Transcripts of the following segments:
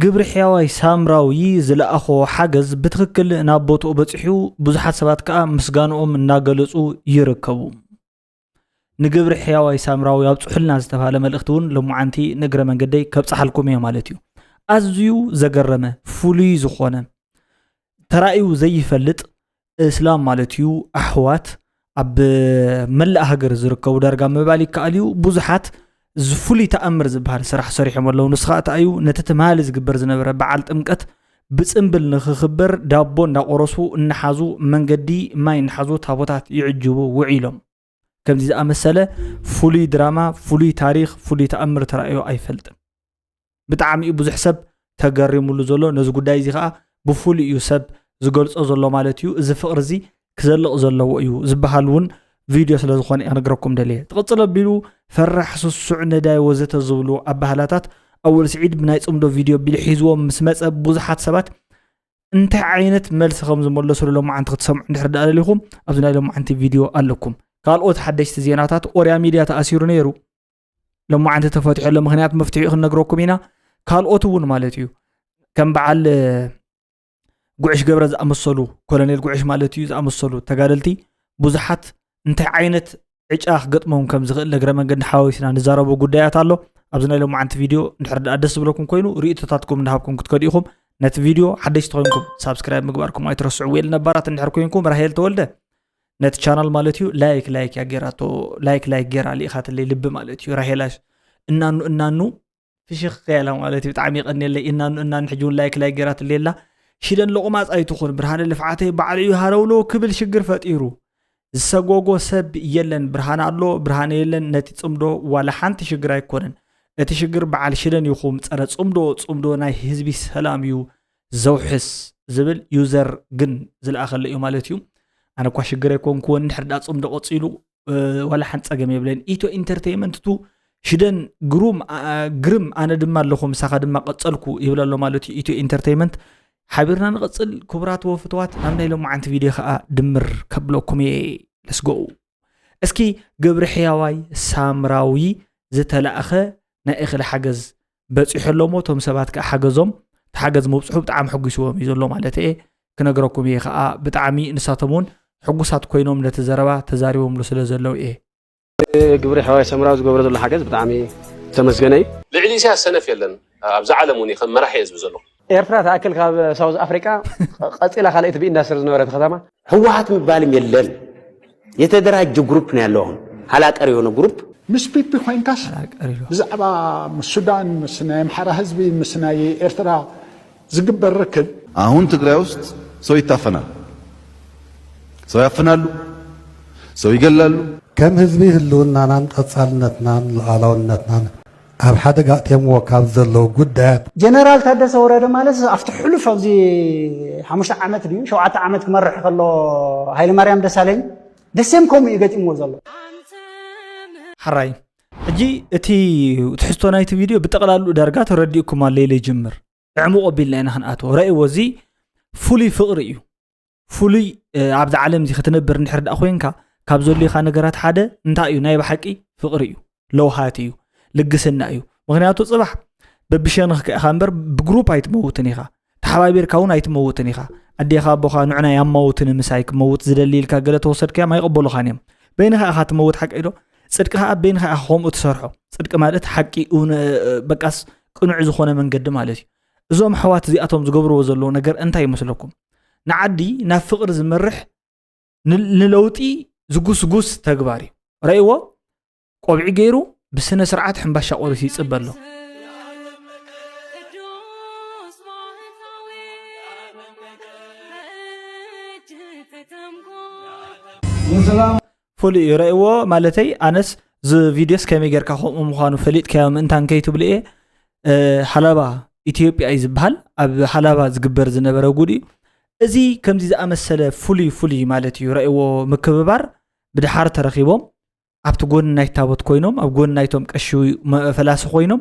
ግብሪ ሕያዋይ ሳምራዊ ዝለኣኾ ሓገዝ ብትኽክል ናብ ቦትኡ በፂሑ ብዙሓት ሰባት ከዓ ምስጋንኦም እናገለፁ ይርከቡ ንግብሪ ሕያዋይ ሳምራዊ ኣብፅሑልና ዝተባሃለ መልእኽቲ እውን ሎማዓንቲ ንእግረ መንገደይ ከብፅሓልኩም እየ ማለት እዩ ኣዝዩ ዘገረመ ፍሉይ ዝኾነ ተራእዩ ዘይፈልጥ እስላም ማለት እዩ ኣሕዋት ኣብ መላእ ሃገር ዝርከቡ ዳርጋ ምባል ይከኣል እዩ ብዙሓት ዝፍሉይ ተኣምር ዝበሃል ስራሕ ሰሪሖም ኣለዉ ንስኻ እታ እዩ ነቲ ትምሃሊ ዝግበር ዝነበረ በዓል ጥምቀት ብፅምብል ንክኽበር ዳቦ እንዳቆረሱ እናሓዙ መንገዲ ማይ እናሓዙ ታቦታት ይዕጅቡ ውዒሎም ከምዚ ዝኣመሰለ ፍሉይ ድራማ ፍሉይ ታሪክ ፍሉይ ተኣምር ተራእዮ ኣይፈልጥን ብጣዕሚ እዩ ብዙሕ ሰብ ተገሪሙሉ ዘሎ ነዚ ጉዳይ እዚ ከዓ ብፍሉይ እዩ ሰብ ዝገልፆ ዘሎ ማለት እዩ እዚ ፍቅሪ እዚ ክዘልቕ ዘለዎ እዩ ዝበሃል እውን ቪድዮ ስለ ዝኾነ እየ ክነግረኩም ደልየ ትቕፅል ኣቢሉ ፈራሕ ስሱዕ ነዳይ ወዘተ ዝብሉ ኣባህላታት ኣወል ስዒድ ብናይ ፅምዶ ቪድዮ ኣቢሉ ሒዝዎም ምስ መፀ ብዙሓት ሰባት እንታይ ዓይነት መልሲ ከም ዝመለስሉ ሎማዓንቲ ክትሰምዑ እንድሕር ዳኣ ደሊኹም ኣብዚ ናይ ሎማዓንቲ ቪድዮ ኣለኩም ካልኦት ሓደሽቲ ዜናታት ኦርያ ሚድያ ተኣሲሩ ነይሩ ሎማዓንቲ ተፈትሐሉ ምክንያት መፍትሒኡ ክንነግረኩም ኢና ካልኦት እውን ማለት እዩ ከም በዓል ጉዕሽ ገብረ ዝኣመሰሉ ኮሎኔል ጉዕሽ ማለት እዩ ዝኣመሰሉ ተጋደልቲ ብዙሓት እንታይ ዓይነት ዕጫ ክገጥሞም ከም ዝኽእል እግረ መንገዲ ሓዋዊስና ንዛረቡ ጉዳያት ኣሎ ኣብዚ ናይ ሎማዓንቲ ቪድዮ እንድሕር ድኣ ደስ ዝብለኩም ኮይኑ ርእቶታትኩም እንዳሃብኩም ክትከዱ ኢኹም ነቲ ቪድዮ ሓደሽቲ ኮይንኩም ሳብስክራይብ ምግባርኩም ኣይትረስዑ ወይል ነባራት እንድሕር ኮይንኩም ራሄል ተወልደ ነቲ ቻናል ማለት እዩ ላይክ ላይክ እያ ጌራቶ ላይክ ላይክ ጌራ ልኢኻትለይ ልቢ ማለት እዩ ራሄላሽ እናኑ እናኑ ፍሽኽ ከያላ ማለት እዩ ብጣዕሚ ይቀኒየለይ እናኑ እናኑ ሕጂ እውን ላይክ ላይ ገይራትለይ ኣላ ሽደን ሎቑማፅ ኣይትኹን ብርሃነ ልፍዓተይ ባዕሉ እዩ ሃረውለው ክብል ሽግር ፈጢሩ ዝሰጎጎ ሰብ የለን ብርሃነ ኣሎ ብርሃነ የለን ነቲ ፅምዶ ዋላ ሓንቲ ሽግር ኣይኮነን እቲ ሽግር በዓል ሽደን ይኹም ፀረ ፅምዶ ፅምዶ ናይ ህዝቢ ሰላም እዩ ዘውሕስ ዝብል ዩዘር ግን ዝለኣኸለ እዩ ማለት እዩ ኣነ እኳ ሽግር ኣይኮንኩዎን ድሕርዳ ፅምዶ ቀፂሉ ዋላ ሓንቲ ፀገም የብለን ኢትዮ ኢንተርቴንመንት ቱ ሽደን ግሩም ግርም ኣነ ድማ ኣለኹ ምሳኻ ድማ ቀፀልኩ ይብል ኣሎ ማለት እዩ ኢትዮ ኢንተርቴንመንት ሓቢርና ንቐፅል ክቡራት ወፍትዋት ናብ ናይ ሎማዓንቲ ቪድዮ ከዓ ድምር ከብለኩም እየ ለስጎኡ እስኪ ግብሪ ሕያዋይ ሳምራዊ ዝተላእኸ ናይ እኽሊ ሓገዝ በፂሑ ኣሎ ሞ እቶም ሰባት ከዓ ሓገዞም ተሓገዝ ምብፅሑ ብጣዕሚ ሕጒስዎም እዩ ዘሎ ማለት እየ ክነግረኩም እየ ከዓ ብጣዕሚ ንሳቶም እውን ሕጉሳት ኮይኖም ነቲ ዘረባ ተዛሪቦምሉ ስለ ዘለው እየ ግብሪ ሓዋይ ሰምራዊ ዝገብሮ ዘሎ ሓገዝ ብጣዕሚ ዝተመስገነ እዩ ልዕሊ ኢሳያስ ሰነፍ የለን ኣብዛ ዓለም እውን ከም መራሒ እየ ዝብል ዘለኹ ኤርትራ ትኣክል ካብ ሳውዝ ኣፍሪቃ ቀጺላ ካልኣይቲ ብኢንዳስትሪ ዝነበረት ከተማ ህወሓት ምባልም የለን የተደራጀ ግሩፕ ነው ያለው አሁን ሀላቀር የሆነ ግሩፕ ምስ ፒፒ ኮይንካስ ብዛዕባ ምስ ሱዳን ምስ ናይ ኣምሓራ ህዝቢ ምስ ናይ ኤርትራ ዝግበር ርክብ አሁን ትግራይ ውስጥ ሰው ይታፈናል፣ ሰው ያፍናሉ፣ ሰው ይገላሉ። ከም ህዝቢ ህልውናናን ቀፃልነትናን ሉኣላውነትናን ኣብ ሓደጋ ኣእትዮምዎ ካብ ዘለዉ ጉዳያት። ጀነራል ታደሰ ወረደ ማለት ኣብቲ ሕሉፍ ኣብዚ ሓሙሽተ ዓመት ድዩ ሸውዓተ ዓመት ክመርሕ ከሎ ሃይለማርያም ደሳለኝ the same ከምኡ እዩ ገጢምዎ ዘሎ። ሐራይ ሕጂ እቲ ትሕዝቶ ናይቲ ቪድዮ ብጠቕላልኡ ዳርጋ ተረዲኡኩም ኣሎ ኢለ ይጅምር። ዕሙቕ ኣቢልና ኢና ክንኣትዎ ረእዎ እዚ ፍሉይ ፍቕሪ እዩ ፍሉይ ኣብዚ ዓለም እዚ ክትነብር እንድሕር ዳኣ ኮንካ ካብ ዘልዩካ ነገራት ሓደ እንታይ እዩ ናይ ብሓቂ ፍቕሪ እዩ ለውሃት እዩ ልግስና እዩ ምክንያቱ ፅባሕ በብሸንኽ ከ ኢኻ እምበር ብግሩፕ ኣይትመውትን ኢኻ ተሓባቢርካ እውን ኣይትመውትን ኢኻ ኣዴኻ ኣቦኻ ንዕና ያማውትን ምሳይ ክመውት ዝደሊ ኢልካ ገለ ተወሰድካዮም ኣይቕበሉኻን እዮም በይንኻ ኢኻ ትመውት ሓቂ ዶ ፅድቂ ከዓ በይንኻ ኢኻ ከምኡ ትሰርሖ ፅድቂ ማለት ሓቂ በቃስ ቅኑዕ ዝኾነ መንገዲ ማለት እዩ እዞም ኣሕዋት እዚኣቶም ዝገብርዎ ዘለዎ ነገር እንታይ ይመስለኩም ንዓዲ ናብ ፍቕሪ ዝመርሕ ንለውጢ ዝጉስጉስ ተግባር እዩ ረእይዎ ቆብዒ ገይሩ ብስነ ስርዓት ሕምባሻ ቆሪሱ ይፅበ ኣሎ ፍሉይ እዩ ረእዎ ማለተይ ኣነስ እዚ ቪድዮስ ከመይ ጌርካ ከምኡ ምዃኑ ፈሊጥካዮ ምእንታን ከይትብሉ እየ ሃላባ ኢትዮጵያ እዩ ዝበሃል ኣብ ሃላባ ዝግበር ዝነበረ ጉድ እዩ እዚ ከምዚ ዝኣመሰለ ፍሉይ ፍሉይ ማለት እዩ ረእዎ ምክብባር ብድሓር ተረኪቦም ኣብቲ ጎኒ ናይ ታቦት ኮይኖም ኣብ ጎኒ ናይቶም ቀሺ ፈላሲ ኮይኖም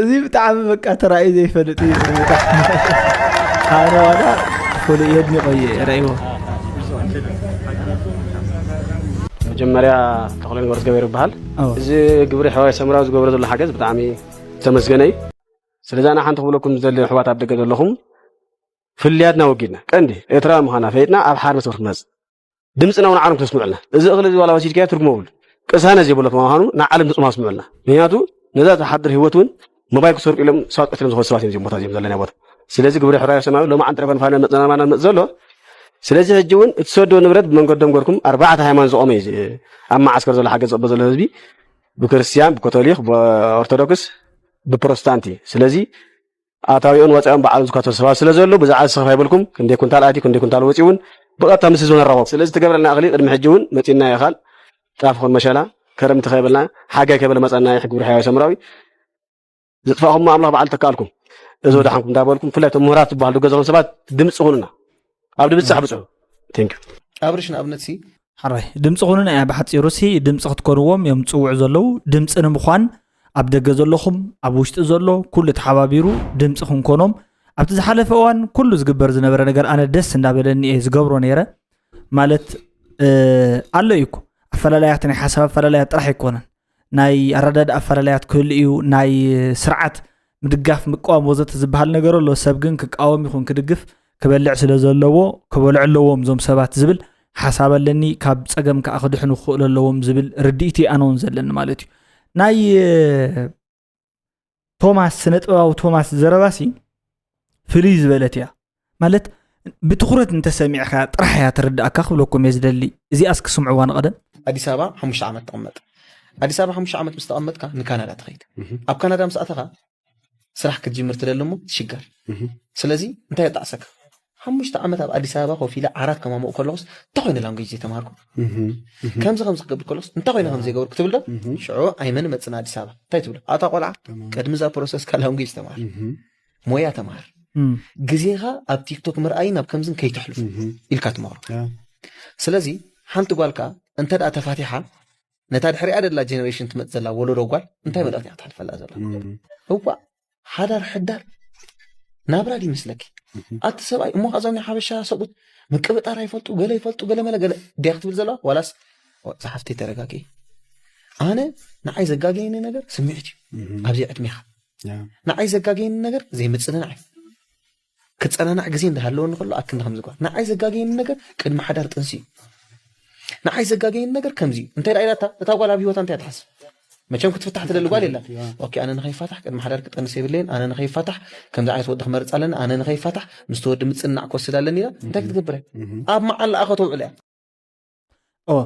እዚ ብጣዕሚ በቃ ተራእዩ ዘይፈልጥ እዩ ኣነ ዋላ ፍሉይ የድኒቆ እየ ረእይዎ መጀመርያ ተክለ ንገሩ ገበሩ ይበሃል እዚ ግብሪ ሕዋይ ሰምራዊ ዝገብረ ዘሎ ሓገዝ ብጣዕሚ ዝተመስገነ እዩ ስለዚ ኣነ ሓንቲ ክብለኩም ዝደሊ ኣሕዋት ኣብ ደገ ዘለኹም ፍልያትና ወጊድና ቀንዲ ኤርትራ ምዃና ፈይጥና ኣብ ሓርነት ክትመፅ ድምፅና እውን ዓለም ክተስምዑልና እዚ እኽሊ እዚ ዋላ ወሲድካዮ ትርጉም የብሉ ቅሳነ ዘይብሎ ምዃኑ ንዓለም ድምፅም ኣስምዑልና ምክንያቱ ነዛ ዝሓድር ህይወት እውን መባይ ክሰርቁ ኢሎም ሰባት ቀትሎም ዝኾኑ ሰባት እዮም ቦታ እዚኦም ዘለና ቦታ ስለዚ ግብረ ሕራዮ ሰማያዊ ሎማ ዕንጥረ ፈንፋነ መፅናማና መፅ ዘሎ ስለዚ ሕጂ እውን እትሰዶ ንብረት ብመንገዶም ገርኩም ኣርባዕተ ሃይማኖት ዝቆመ እዩ ኣብ መዓስከር ዘሎ ሓገዝ ዝቕበ ዘሎ ህዝቢ ብክርስትያን ብካቶሊክ ብኦርቶዶክስ ብፕሮቴስታንት እዩ ስለዚ ኣታዊኦን ወፃኢኦን ባዕሎም ዝካተሉ ሰባት ስለ ዘሉ ብዛዕባ እዚ ስኽፍ ኣይብልኩም ክንደይ ኩንታል ኣትዩ ክንደይ ኩንታል ወፂኡ እውን ብቐጥታ ምስ ህዝቢ ንራኸብ ስለዚ ትገብረልና እኽሊ ቅድሚ ሕጂ እውን መፂና ይኻል ጣፍ ኹን መሸላ ከረምቲ ከይበልና ሓጋይ ከይበለ መፀና ይሕ ግብሪ ሕያዊ ሰምራዊ ዝጥፋእኹም ኣምላኽ በዓል ተካኣልኩም እዚ ወዳሓንኩም እንዳበልኩም ብፍላይ እቶም ምሁራት ዝበሃሉ ገዛኹም ሰባት ድምፂ ኹኑና ኣብ ድብጻሕ ብጽሑ ቴንክ ዩ ኣብርሽ ንኣብነት ሲ ሓራይ ድምፂ ኩኑን ኣያ ብሓፂሩ ሲ ድምፂ ክትኮንዎም እዮም ፅውዑ ዘለዉ ድምፂ ንምኳን ኣብ ደገ ዘለኹም ኣብ ውሽጢ ዘሎ ኩሉ ተሓባቢሩ ድምፂ ክንኮኖም ኣብቲ ዝሓለፈ እዋን ኩሉ ዝግበር ዝነበረ ነገር ኣነ ደስ እንዳበለኒ እየ ዝገብሮ ነይረ ማለት ኣሎ እዩ እኮ ኣፈላለያት ናይ ሓሳብ ኣፈላለያት ጥራሕ ኣይኮነን ናይ ኣረዳድ ኣፈላለያት ክህሉ እዩ ናይ ስርዓት ምድጋፍ ምቃወም ወዘተ ዝበሃል ነገር ኣሎ ሰብ ግን ክቃወም ይኹን ክድግፍ ክበልዕ ስለ ዘለዎ ክበልዑ ኣለዎም እዞም ሰባት ዝብል ሓሳብ ኣለኒ ካብ ፀገም ከዓ ክድሕኑ ክኽእሉ ኣለዎም ዝብል ርድኢት ኣነ እውን ዘለኒ ማለት እዩ ናይ ቶማስ ስነ ጥበባዊ ቶማስ ዘረባሲ ፍልይ ዝበለት እያ ማለት ብትኩረት እንተሰሚዕካ ጥራሕ እያ ትርዳእካ ክብለኩም እየ ዝደሊ እዚኣ እስኪ ስምዕዋ ንቀደም ኣዲስ ኣበባ ሓሙሽተ ዓመት ተቐመጥ ኣዲስ ኣበባ ሓሙሽተ ዓመት ምስ ተቐመጥካ ንካናዳ ትኸይድ ኣብ ካናዳ ምስ ኣተኻ ስራሕ ክትጅምር ትደሊ እሞ ትሽገር ስለዚ እንታይ የጣዕሰካ ሓሙሽተ ዓመት ኣብ ኣዲስ ኣበባ ኮፍ ኢለ ዓራት ከማሙቕ ከለኹስ እንታይ ኮይነ ላንጉጅ ዘይተማሃርኩ ከምዚ ከምዚ ክገብር ከለኹስ እንታይ ኮይነ ከም ዘይገበርኩ ትብል ዶ ሽዑ ኣይመን መፅእ ንኣዲስ ኣበባ እንታይ ትብሎ ኣታ ቆልዓ ቅድሚ እዛ ፕሮሰስካ ላንጉጅ ተማሃር ሞያ ተማሃር ግዜኻ ኣብ ቲክቶክ ምርኣይን ኣብ ከምዝን ከይተሕልፉ ኢልካ ትመኽሮ ስለዚ ሓንቲ ጓል ከዓ እንተ ደኣ ተፋቲሓ ነታ ድሕሪኣ ደላ ጀኔሬሽን ትመፅ ዘላ ወለዶ ጓል እንታይ መልእኽቲ ክትሓልፈላ ዘላ እዋእ ሓዳር ሕዳር ናብራ ድ ይመስለኪ ኣቲ ሰብኣይ እሞ ከ እዞም ናይ ሓበሻ ሰብኡት ምቅብጣር ኣይፈልጡ ገለ ይፈልጡ ገለ መለ ገለ ድያ ክትብል ዘለዋ ዋላስ ፀሓፍቲ ተረጋጊ ኣነ ንዓይ ዘጋገየኒ ነገር ስምዒት እዩ ኣብዚ ዕድሜኻ ንዓይ ዘጋገየኒ ነገር ዘይምፅንናዕ እዩ ክጸናናዕ ግዜ እንዳ ሃለወኒ ከሎ ኣክንዲ ከምዚ ጓል ንዓይ ዘጋገየኒ ነገር ቅድሚ ሓዳር ጥንሲ እዩ ንዓይ ዘጋገየኒ ነገር ከምዚ እዩ እንታይ ደኣ ኢላታ እታ ጓል ኣብ ሂወታ እንታይ ትሓስብ መቸም ክትፍታሕ ትደሊ ጓል የላን ኦኬ ኣነ ንኸይፋታሕ ቅድሚ ሓዳር ክጠንስ የብለይን ኣነ ንኸይፋታሕ ከምዚ ዓይነት ወዲ ክመርፅ ኣለኒ ኣነ ንኸይፋታሕ ምስቲ ወዲ ምፅናዕ ክወስድ ኣለኒ ኢላ እንታይ ክትገብር እያ ኣብ መዓላኣ ከተውዕል እያ ኦ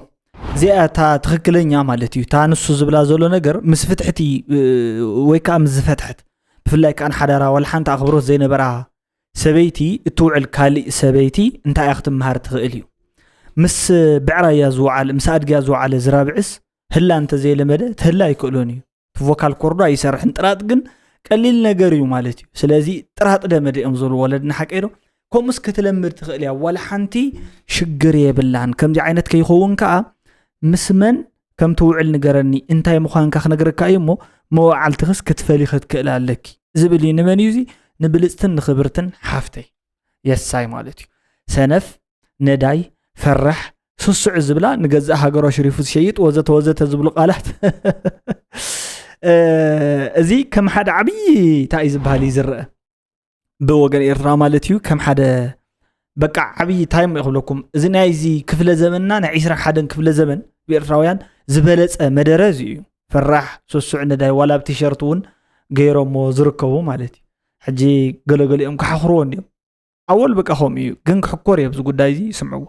እዚኣ እታ ትክክለኛ ማለት እዩ እታ ንሱ ዝብላ ዘሎ ነገር ምስ ፍትሕቲ ወይ ከዓ ምስ ዝፈትሐት ብፍላይ ከዓ ንሓዳራ ዋላ ሓንቲ ኣኽብሮት ዘይነበራ ሰበይቲ እትውዕል ካሊእ ሰበይቲ እንታይ እያ ክትምሃር ትኽእል እዩ ምስ ብዕራያ ዝወዓለ ምስ ኣድግያ ዝወዓለ ዝራብዕስ ህላ እንተዘይለመደ ትህላ ኣይክእሎን እዩ እቲ ቮካል ኮርዶ ኣይሰርሕን ጥራጥ ግን ቀሊል ነገር እዩ ማለት እዩ ስለዚ ጥራጥ ደመደ እዮም ዝብሉ ወለድና ሓቀዶ ከምኡስ ክትለምድ ትኽእል እያ ዋላ ሓንቲ ሽግር የብላን ከምዚ ዓይነት ከይኸውን ከዓ ምስ መን ከም ትውዕል ንገረኒ እንታይ ምዃንካ ክነግረካ እዩ እሞ መዋዓልትኽስ ክትፈሊ ክትክእል ኣለኪ ዝብል እዩ ንመን እዩ እዚ ንብልፅትን ንክብርትን ሓፍተይ የሳይ ማለት እዩ ሰነፍ ነዳይ ፈራሕ ስሱዕ ዝብላ ንገዛእ ሃገሮ ሽሪፉ ዝሸይጥ ወዘተ ወዘተ ዝብሉ ቃላት እዚ ከም ሓደ ዓብዪ እንታይ እዩ ዝበሃል እዩ ዝረአ ብወገን ኤርትራ ማለት እዩ ከም ሓደ በቃ ዓብዪ እንታይ ሞ ይክብለኩም እዚ ናይ እዚ ክፍለ ዘመንና ናይ 2ስራ ሓደን ክፍለ ዘመን ብኤርትራውያን ዝበለፀ መደረ እዚ እዩ ፈራሕ ስሱዕ ነዳይ ዋላ ብ ቲሸርት እውን ገይሮሞ ዝርከቡ ማለት እዩ ሕጂ ገለገሊኦም ክሓኽርዎ እንዲዮም ኣወል በቃ ከምኡ እዩ ግን ክሕኮር እየ ኣብዚ ጉዳይ እዚ ስምዕዎ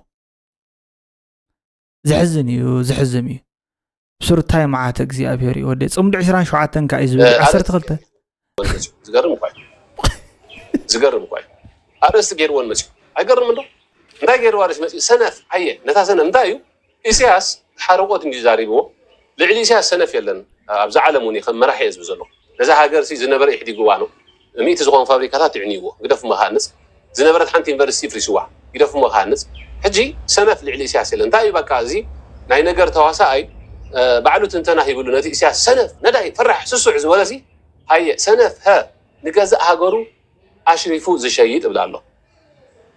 ዘሕዝን እዩ ዘሕዝም እዩ ስርታይ መዓት እግዚኣብሄር እዩ ወደ ፅምዲ 27 እንካ እዩ ዝብል 12 ዝገርም እኳ ዝገርም እኳ ኣርእስቲ ገይርዎን መፅኡ ኣይገርም እንዶ እንታይ ገይርዋ ርእሲ መፅኡ ሰነፍ ኣየ ነታ ሰነፍ እንታይ እዩ ኢሰያስ ሓርቆት እንድዩ ዛሪብዎ ልዕሊ ኢሰያስ ሰነፍ የለን ኣብዛ ዓለም ውን ከም መራሒ እየ ዝብል ዘለኩ ነዛ ሃገር ሲ ዝነበረ ኢሕዲግዋ ነው ሚእቲ ዝኮን ፋብሪካታት ይዕንይዎ ግደፍሞ ክሃንጽ ዝነበረት ሓንቲ ዩኒቨርሲቲ ይፍሪስዋ ግደፍሞ ክሃንጽ ሕጂ ሰነፍ ልዕሊ ኢሰያስ የለን እንታይ እዩ በቃ እዚ ናይ ነገር ተዋሳኣይ ባዕሉ ትንተና ሂብሉ ነቲ ኢሰያስ ሰነፍ ነዳይ ፈራሕ ስሱዕ ዝበለሲ ሃየ ሰነፍ ሀ ንገዛእ ሃገሩ ኣሽሪፉ ዝሸይጥ እብላ ኣለኩ።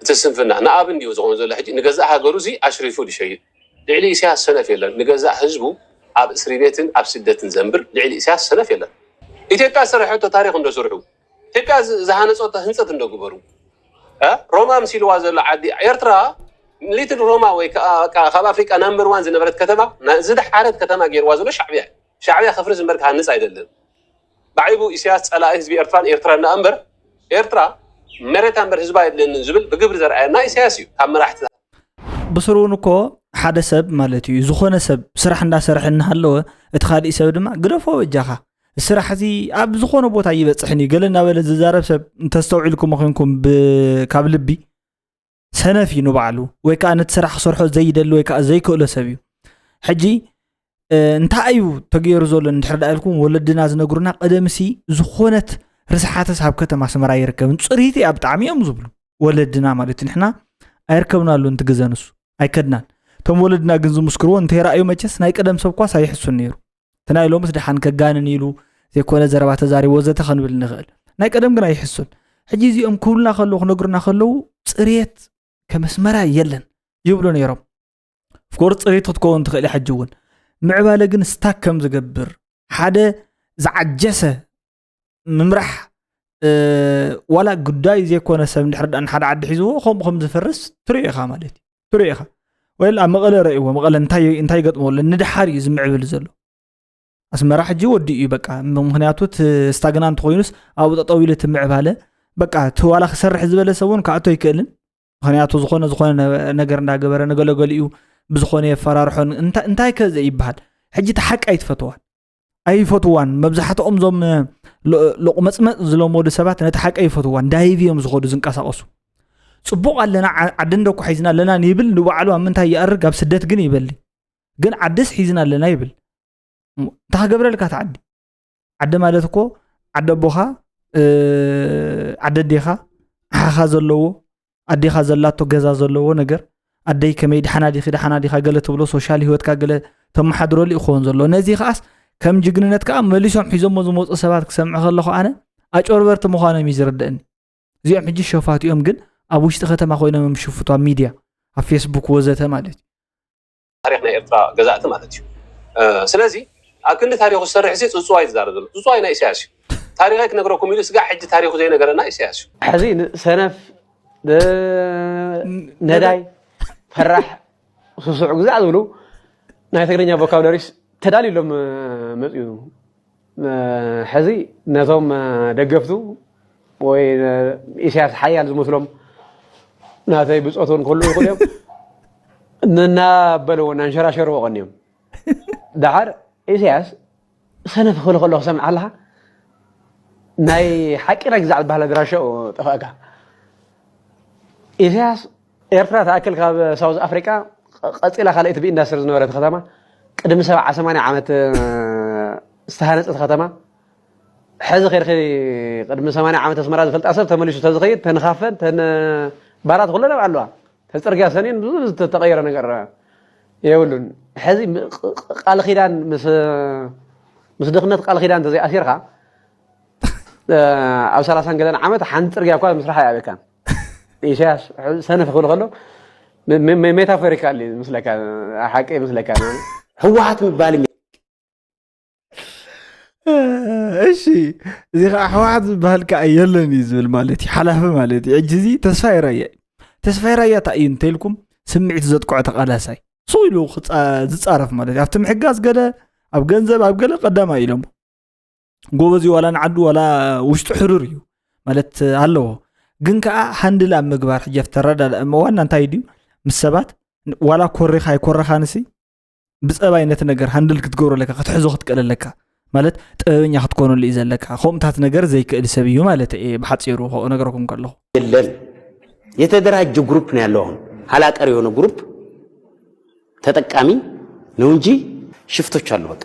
እቲ ስንፍና ንኣብ እንድዩ ዝኮን ዘሎ ሕጂ ንገዛእ ሃገሩ ሲ ኣሽሪፉ ድሸይጥ ልዕሊ ኢሰያስ ሰነፍ የለን ንገዛእ ህዝቡ ኣብ እስሪቤትን ኣብ ስደትን ዘንብር ልዕሊ ኢሰያስ ሰነፍ የለን። ኢትዮጵያ ዝሰረሐቶ ታሪኽ እንዶ ስርሑ ኢትዮጵያ ዝሃነጸቶ ህንጸት እንዶ ግበሩ እ ሮማ ኣምሲልዋ ዘሎ ዓዲ ኤርትራ ሊትል ሮማ ወይ ከኣ በቃ ካብ ኣፍሪቃ ናምበር ዋን ዝነበረት ከተማ ዝደሓረት ከተማ ጌርዋ ዘሎ ሻዕብያ እዩ ሻዕብያ ከፍርስ እምበር ክሃንጽ ኣይደልን። ብዓይቡ ኢሰያስ ጸላኢ ህዝቢ ኤርትራን ኤርትራን ደኣ እምበር ኤርትራ መሬታ እምበር ህዝባ የድልየንን ዝብል ብግብሪ ዘርኣየና ኢሰያስ እዩ ካብ መራሕቲ ብስሩ እውን እኮ ሓደ ሰብ ማለት እዩ ዝኾነ ሰብ ስራሕ እንዳሰርሐ እናሃለወ እቲ ካሊእ ሰብ ድማ ግደፎ በጃኻ ስራሕ እዚ ኣብ ዝኾነ ቦታ ይበፅሕን እዩ ገለ እናበለ ዝዛረብ ሰብ እንተስተውዒልኩሞ ኮንኩም ብ- ካብ ልቢ ሰነፍ እዩ ንባዕሉ ወይ ከዓ ነቲ ስራሕ ክሰርሖ ዘይደሊ ወይ ከዓ ዘይክእሎ ሰብ እዩ ሕጂ እንታይ እዩ ተገይሩ ዘሎ እንድሕር ዳ ኢልኩም ወለድና ዝነግሩና ቀደምሲ ዝኾነት ርስሓተስ ኣብ ከተማ ኣስመራ ይርከብን ፅሪት እያ ብጣዕሚ እዮም ዝብሉ ወለድና ማለት እዩ ንሕና ኣይርከብናሉ እንቲ ግዘ ንሱ ኣይከድናን እቶም ወለድና ግን ዝምስክርዎ እንተይረኣዩ መቸስ ናይ ቀደም ሰብ ኳስ ኣይሕሱን ነይሩ እቲ ናይ ሎምስ ድሓን ከጋንን ኢሉ ዘይኮነ ዘረባ ተዛሪብ ወዘተ ክንብል ንኽእል ናይ ቀደም ግና ይሕሱን ሕጂ እዚኦም ክብሉና ከለዉ ክነግሩና ከለዉ ፅሬት ከመስመራ የለን ይብሉ ነይሮም ፍኮር ፅሬት ክትከውን ትኽእል ሕጂ እውን ምዕባለ ግን ስታክ ከም ዝገብር ሓደ ዝዓጀሰ ምምራሕ ዋላ ጉዳይ ዘይኮነ ሰብ ድሕር ዳ ንሓደ ዓዲ ሒዝዎ ከምኡ ከም ዝፈርስ ትሪኦ ኢኻ ማለት እዩ ትሪኦ ኢኻ ወይ ኣብ መቐለ ረእዎ መቐለ እንታይ ገጥሞ ኣሎ ንድሓር እዩ ዝምዕብል ዘሎ ኣስመራ ሕጂ ወዲ እዩ በቃ ምክንያቱ ስታግና እንተኮይኑስ ኣብኡ ጠጠው ኢሉ ትምዕባለ በቃ እቲ ዋላ ክሰርሕ ዝበለ ሰብ እውን ክኣቶ ኣይክእልን ምክንያቱ ዝኾነ ዝኾነ ነገር እንዳገበረ ንገለገሊኡ ብዝኾነ የፈራርሖን እንታይ ከዘ ይበሃል ሕጂ እቲ ሓቂ ኣይትፈተዋን ኣይፈትዋን መብዛሕትኦም እዞም ሎቁመፅመፅ ዝለመዱ ሰባት ነቲ ሓቂ ኣይፈትዋን ዳይቭ እዮም ዝኸዱ ዝንቀሳቀሱ ፅቡቅ ኣለና ዓዲ እንደኮ ሒዝና ኣለና ይብል ንባዕሉ ኣብ ምንታይ ይኣርግ ኣብ ስደት ግን ይበሊ ግን ዓድስ ሒዝና ኣለና ይብል እንታይ ክገብረልካ እቲ ዓዲ ዓዲ ማለት እኮ ዓዲ ኣቦኻ ዓዲ ኣዴኻ ሓኻ ዘለዎ ኣዴኻ ዘላቶ ገዛ ዘለዎ ነገር ኣደይ ከመይ ድሓና ዲኺ ድሓና ዲኻ ገለ ትብሎ ሶሻል ሂወትካ ገለ ተመሓድረሉ እዩ ክኸውን ዘሎ ነዚ ከዓስ ከም ጅግንነት ከዓ መሊሶም ሒዞሞ ዝመፁ ሰባት ክሰምዕ ከለኹ ኣነ ኣጨበርበርቲ ምዃኖም እዩ ዝርድእኒ እዚኦም ሕጂ ሸፋት እዮም ግን ኣብ ውሽጢ ከተማ ኮይኖም እዮም ሽፍቱ ኣብ ሚድያ ኣብ ፌስቡክ ወዘተ ማለት እዩ ታሪኽ ናይ ኤርትራ ገዛእቲ ማለት እዩ ስለዚ ኣብ ክንዲ ታሪኹ ዝሰርሕ ሲ ጽጽዋይ ዝዛረብ ዘሎ ጽጽዋይ ናይ ኢሳያስ እዩ ታሪኸይ ክነግረኩም ኢሉ ስጋዕ ሕጂ ታሪኹ ዘይነገረና ኢሳያስ እዩ ሕዚ ሰነፍ ነዳይ ፈራሕ ስሱዕ ግዛዕ ዝብሉ ናይ ትግርኛ ቮካብለሪስ ተዳልዩሎም መጽኡ ሕዚ ነቶም ደገፍቱ ወይ ኢሳያስ ሓያል ዝመስሎም ናተይ ብፆት እውን ክህልው ይኽእሉ እዮም እናበልዎ እናንሸራሸርዎ ቀኒዮም ድሓር ኢሳያስ ሰነፍ ክብል ከሎ ክሰምዕ ኣለካ ናይ ሓቂ ናይ ግዛዕ ዝበሃል ኣድራሻኡ ጠፋእካ ኢሳያስ ኤርትራ ትኣክል ካብ ሳውዝ ኣፍሪቃ ቀጺላ ካልኣይቲ ብኢንዳስትሪ ዝነበረት ከተማ ቅድሚ ሰብዓ ሰማንያ ዓመት ዝተሃነጸት ከተማ ሕዚ ከድኺ ቅድሚ ሰማንያ ዓመት ኣስመራ ዝፈልጣ ሰብ ተመሊሱ ተዝኸይድ ተንኻፈን ተን ባራት ኩለን ኣብ ኣለዋ ተጽርግያ ሰኒን ብዙ ዝተቀየረ ነገር የብሉን ሕዚ ቃል ኪዳን ምስ ድኽነት ቃል ኪዳን እንተዘይኣሲርካ ኣብ ሰላሳን ገለን ዓመት ሓንቲ ጽርግያ እኳ ምስራሕ ኣይኣብካን ኢሳያስ ሰነፍ ክብል ከሎ ሜታፎሪካል እዩ ምስለካ ሓቂ ምስለካ ህወሓት ምባል እሺ እዚ ከዓ ህወሓት ዝበሃል ከዓ የለን እዩ ዝብል ማለት እዩ ሓላፊ ማለት እዩ ሕጂ እዚ ተስፋይ ራያ እዩ ተስፋይ ራያ እታ እዩ እንተልኩም ስምዒት ዘጥቅዖ ተቃላሳይ ሱ ኢሉ ዝፃረፍ ማለት እዩ ኣብቲ ምሕጋዝ ገለ ኣብ ገንዘብ ኣብ ገለ ቀዳማ ኢሎሞ ጎበዝ እዩ ዋላ ንዓዱ ዋላ ውሽጡ ሕሩር እዩ ማለት ኣለዎ ግን ከዓ ሃንድል ኣብ ምግባር ሕጀፍ ተረዳ ዋና እንታይ ድዩ ምስ ሰባት ዋላ ኮሪኻ ኣይኮረኻ ንሲ ብፀባይ ነቲ ነገር ሃንድል ክትገብሮ ኣለካ ክትሕዞ ክትቀል ኣለካ ማለት ጥበበኛ ክትኮነሉ እዩ ዘለካ ከምኡታት ነገር ዘይክእል ሰብ እዩ ማለት እየ ብሓፂሩ ነገረኩም ከለኹ የለን የተደራጀ ግሩፕ ነው ያለው አሁን ሀላቀር የሆነ ግሩፕ ተጠቃሚ ነው እንጂ ሽፍቶች አሉ በቃ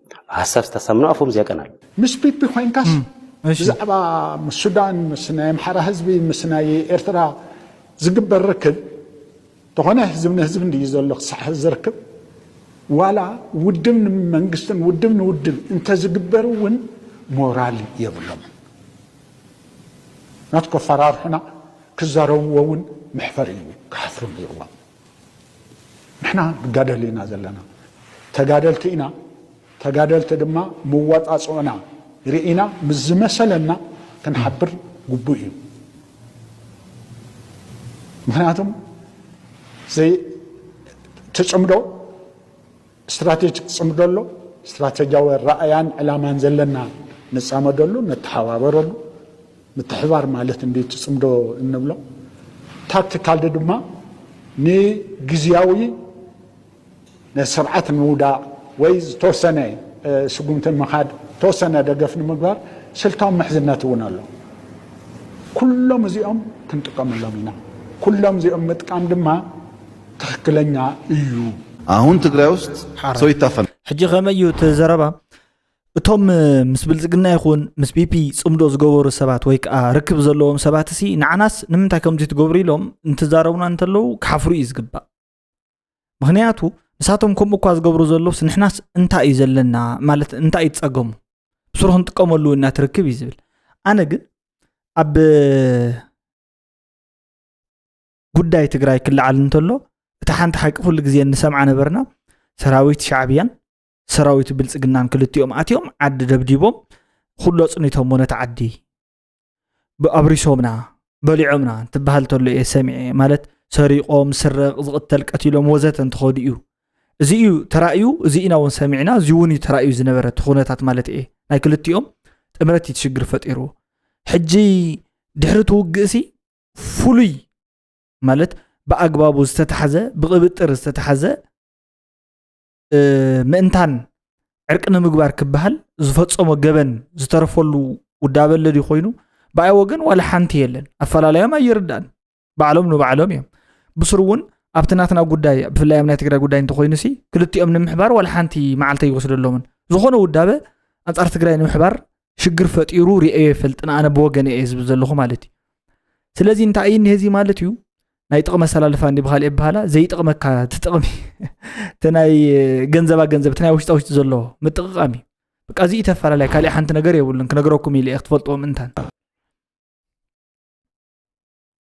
ሐሳብ ዝተሰምኖ ኣፎም ዝያቀናል። ምስ ፒፒ ኮይንካስ ብዛዕባ ምስ ሱዳን ምስ ናይ ኣምሓራ ህዝቢ ምስ ናይ ኤርትራ ዝግበር ርክብ ተኾነ ህዝብ ንህዝብ እንድዩ ዘሎ ክሳዕ ሐዚ ዝርክብ ዋላ ውድብ ንመንግስትን ውድብ ንውድብ እንተዝግበር እውን ሞራል የብሎምን ናት ከፈራርሑና ክዛረብዎ እውን መሕፈሪ እዩ ክሓፍሩ ነይርዎም። ንሕና ንጋደል ኢና ዘለና ተጋደልቲ ኢና ተጋደልቲ ድማ መዋጻጽኦና ርኢና ምስ ዝመሰለና ክንሓብር ግቡእ እዩ ምክንያቱም ትፅምዶ ስትራቴጂክ ፅምዶ ኣሎ። ስትራቴጂያዊ ኣረኣእያን ዕላማን ዘለና ንፃመደሉ፣ ንተሓባበረሉ። ምትሕብባር ማለት እንድዩ እቲ ፅምዶ እንብሎ። ታክቲካል ድማ ንግዝያዊ ነቲ ስርዓት ንምውዳቕ ወይ ዝተወሰነ ስጉምቲ ንምኻድ ተወሰነ ደገፍ ንምግባር ስልታዊ ምሕዝነት እውን ኣሎ። ኩሎም እዚኦም ክንጥቀመሎም ኢና። ኩሎም እዚኦም ምጥቃም ድማ ትክክለኛ እዩ። ኣሁን ትግራይ ውስጥ ሰው ይታፈናል። ሕጂ ከመይ እዩ እቲ ዘረባ እቶም ምስ ብልፅግና ይኹን ምስ ቢፒ ፅምዶ ዝገበሩ ሰባት ወይ ከዓ ርክብ ዘለዎም ሰባት እሲ ንዓናስ ንምንታይ ከምዚ ትገብሩ ኢሎም እንትዛረቡና እንተለዉ ክሓፍሩ እዩ ዝግባእ ምክንያቱ ንሳቶም ከምኡ እኳ ዝገብሩ ዘለውስ ንሕናስ እንታይ እዩ ዘለና ማለት እንታይ እዩ ፀገሙ ብስሩ ክንጥቀመሉ እና ትርክብ እዩ ዝብል ኣነ ግን ኣብ ጉዳይ ትግራይ ክለዓል እንተሎ እቲ ሓንቲ ሓቂ ኩሉ ግዜ እንሰምዓ ነበርና ሰራዊት ሻዕብያን ሰራዊት ብልፅግናን ክልቲኦም ኣትዮም ዓዲ ደብዲቦም ኩሎ ፅኒቶሞ ነቲ ዓዲ ኣብሪሶምና በሊዖምና እንትበሃል ተሎ እየ ሰሚዐ ማለት ሰሪቆም ስረቕ ዝቕተል ቀቲሎም ወዘተ እንትኸዱ እዩ እዚ እዩ ተራእዩ እዚ ኢና እውን ሰሚዕና እዚ እውን እዩ ተራእዩ ዝነበረ እቲ ኩነታት ማለት እየ ናይ ክልቲኦም ጥምረት እዩ ትሽግር ፈጢሩ ሕጂ ድሕሪ ትውግእ ሲ ፍሉይ ማለት ብኣግባቡ ዝተታሓዘ ብቕብጥር ዝተታሓዘ ምእንታን ዕርቂ ንምግባር ክበሃል ዝፈፀሞ ገበን ዝተረፈሉ ውዳበ ኣለድ ኮይኑ ብኣይ ወገን ዋላ ሓንቲ የለን ኣፈላለዮም ኣይርዳእን ባዕሎም ንባዕሎም እዮም ብስሩ እውን ኣብቲ ናትና ጉዳይ ብፍላይ ኣብ ናይ ትግራይ ጉዳይ እንተኮይኑ ሲ ክልቲኦም ንምሕባር ዋላ ሓንቲ መዓልተ ይወስደሎምን ዝኾነ ውዳበ ኣንፃር ትግራይ ንምሕባር ሽግር ፈጢሩ ርኤዮ ይፈልጥን ኣነ ብወገነ እየ ዝብል ዘለኹ ማለት እዩ ስለዚ እንታይ እዩ እኒሀዚ ማለት እዩ ናይ ጥቕሚ ኣሰላልፋ እንዲ ብካልእ ይበሃላ ዘይጥቕመካ ትጥቕሚ እቲ ናይ ገንዘባ ገንዘብ እቲ ናይ ውሽጣ ውሽጢ ዘለዎ ምጥቕቃም እዩ በቃ እዚ ተፈላለያ ካልእ ሓንቲ ነገር የብሉን ክነግረኩም ኢለ ክትፈልጥዎ ምእንታን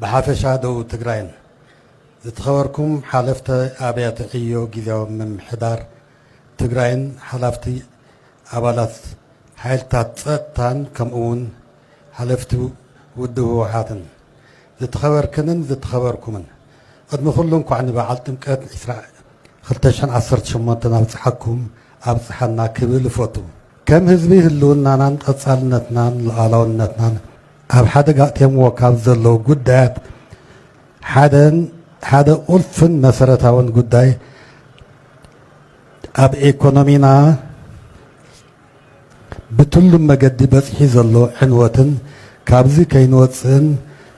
ብሓፈሻ ደቡብ ትግራይን። ዝትኸበርኩም ሓለፍተ ኣብያተ ዕዮ ጊዚያዊ ምምሕዳር ትግራይን ሓላፍቲ ኣባላት ሓይልታት ፀጥታን ከምኡ ውን ሓለፍቲ ውድብ ህወሓትን። ዝትኸበርክንን ዝትኸበርኩምን። ቕድሚ ኹሉ እንኳዕ ንበዓል ጥምቀት ዕስራ ክልተ ሽሕን ዓሰርተ ሸሞንተን ኣብፀሓኩም ኣብፀሓና ክብል እፎቱ። ከም ህዝቢ ህልውናናን ቐፃልነትናን ሉኣላውነትናን። ኣብ ሓደጋ ኣእትዮምዎ ካብ ዘለዉ ጉዳያት ሓደን ሓደ ቁልፍን መሰረታውን ጉዳይ ኣብ ኤኮኖሚና ብትሉም መገዲ በፂሒ ዘሎ ዕንወትን ካብዚ ከይንወፅእን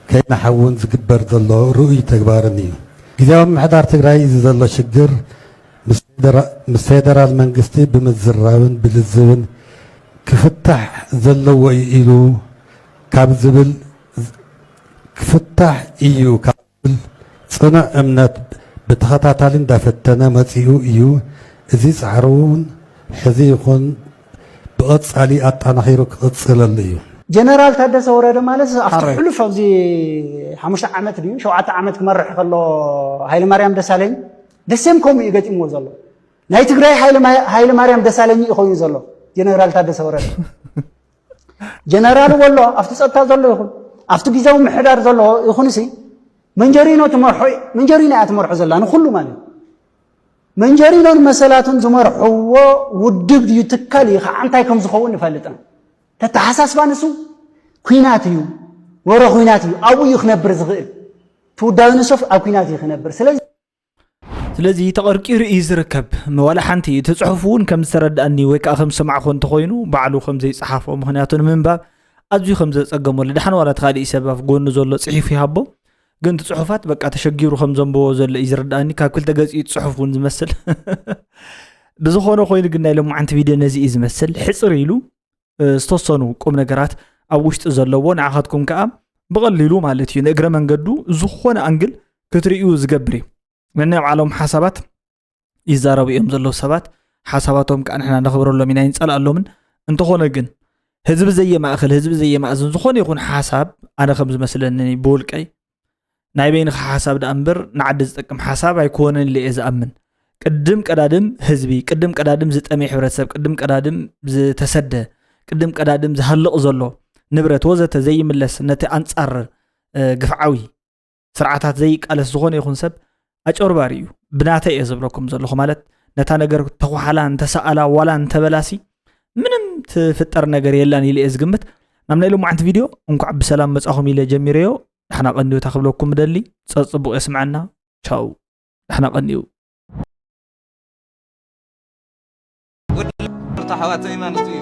ከይንሓውን ዝግበር ዘሎ ርኡይ ተግባርን እዩ። ግዚያዊ ምምሕዳር ትግራይ እዚ ዘሎ ሽግር ምስ ፌደራል መንግስቲ ብምዝራብን ብልዝብን ክፍታሕ ዘለዎ እዩ ኢሉ ካብ ዝብል ክፍታሕ እዩ ካብ ዝብል ፅኑዕ እምነት ብተኸታታሊ እንዳፈተነ መፂኡ እዩ። እዚ ፃዕሩ እውን ሕዚ ይኹን ብቐፃሊ ኣጣናኺሩ ክቕፅለሉ እዩ። ጀነራል ታደሰ ወረደ ማለት ኣብቲ ሕሉፍ ኣብዚ ሓሙሽተ ዓመት ድዩ ሸውዓተ ዓመት ክመርሕ ከሎ ሃይለማርያም ደሳለኝ ደሴም ከምኡ እዩ ገጢምዎ ዘሎ ናይ ትግራይ ሃይለ ማርያም ደሳለኝ እዩ ኮይኑ ዘሎ ጀነራል ታደሰ ወረደ ጀነራል ወሎ ኣብቲ ፀጥታ ዘሎ ይኹን ኣብቲ ግዜዊ ምሕዳር ዘሎ ይኹን ሲ መንጀሪኖ ትመርሖ መንጀሪኖ እያ ትመርሖ ዘላ ንኩሉ ማለት መንጀሪኖን መሰላቱን ዝመርሕዎ ውድብ ድዩ ትካል እዩ ከዓ እንታይ ከም ዝኸውን ንፈልጥና ተተሓሳስባ ንሱ ኩናት እዩ ወረ ኩናት እዩ ኣብኡ እዩ ክነብር ዝኽእል ትውዳዊ ንሶፍ ኣብ ኩናት እዩ ክነብር ስለዚ ስለዚ ተቐርቂሩ እዩ ዝርከብ ዋላ ሓንቲ እቲ ፅሑፍ እውን ከም ዝተረድኣኒ ወይ ከዓ ከም ዝሰማዕኹ እንተኮይኑ ባዕሉ ከም ዘይፀሓፎ ምክንያቱ ንምንባብ ኣዝዩ ከም ዘፀገመሉ ድሓን ዋላ ተካሊእ ሰብ ኣብ ጎኑ ዘሎ ፅሒፉ ይሃቦ ግን እቲ ፅሑፋት በቃ ተሸጊሩ ከም ዘንብቦ ዘሎ እዩ ዝረድኣኒ ካብ ክልተ ገፂ ፅሑፍ እውን ዝመስል ብዝኾነ ኮይኑ ግን ናይ ሎማዓንቲ ቪድዮ ነዚ እዩ ዝመስል ሕፅር ኢሉ ዝተወሰኑ ቁም ነገራት ኣብ ውሽጢ ዘለዎ ንዓኻትኩም ከዓ ብቐሊሉ ማለት እዩ ንእግረ መንገዱ ዝኾነ ኣንግል ክትርእዩ ዝገብር እዩ ነናይ ባዕሎም ሓሳባት ይዛረቡ እዮም ዘለዉ ሰባት ሓሳባቶም ከዓ ንሕና ነኽብረሎም ኢና ይንፀልኣሎምን እንተኾነ ግን ህዝቢ ዘየማእኽል ህዝቢ ዘየማእዝን ዝኾነ ይኹን ሓሳብ ኣነ ከም ዝመስለኒ ብውልቀይ ናይ በይንኻ ሓሳብ ደኣ እምበር ንዓዲ ዝጠቅም ሓሳብ ኣይኮነን ኢለ እየ ዝኣምን ቅድም ቀዳድም ህዝቢ ቅድም ቀዳድም ዝጠመየ ሕብረተሰብ ቅድም ቀዳድም ዝተሰደ ቅድም ቀዳድም ዝሃልቕ ዘሎ ንብረት ወዘተ ዘይምለስ ነቲ ኣንጻር ግፍዓዊ ስርዓታት ዘይቃለስ ዝኾነ ይኹን ሰብ ኣጨርባሪ እዩ ብናተ እየ ዝብለኩም ዘለኹ ማለት ነታ ነገር ተኳሓላ እንተሰኣላ ዋላ እንተበላሲ ምንም ትፍጠር ነገር የላን ኢለ እየ ዝግምት ናብ ናይ ሎማዓንቲ ቪድዮ እንኳዕ ብሰላም መፃኹም ኢለ ጀሚረዮ ንሕና ቀንዮታ ክብለኩም ደሊ ፀፅቡቕ የስምዐና ቻው ንሕና ቀንዩ ወዲ ኣሕዋተይ ማለት እዩ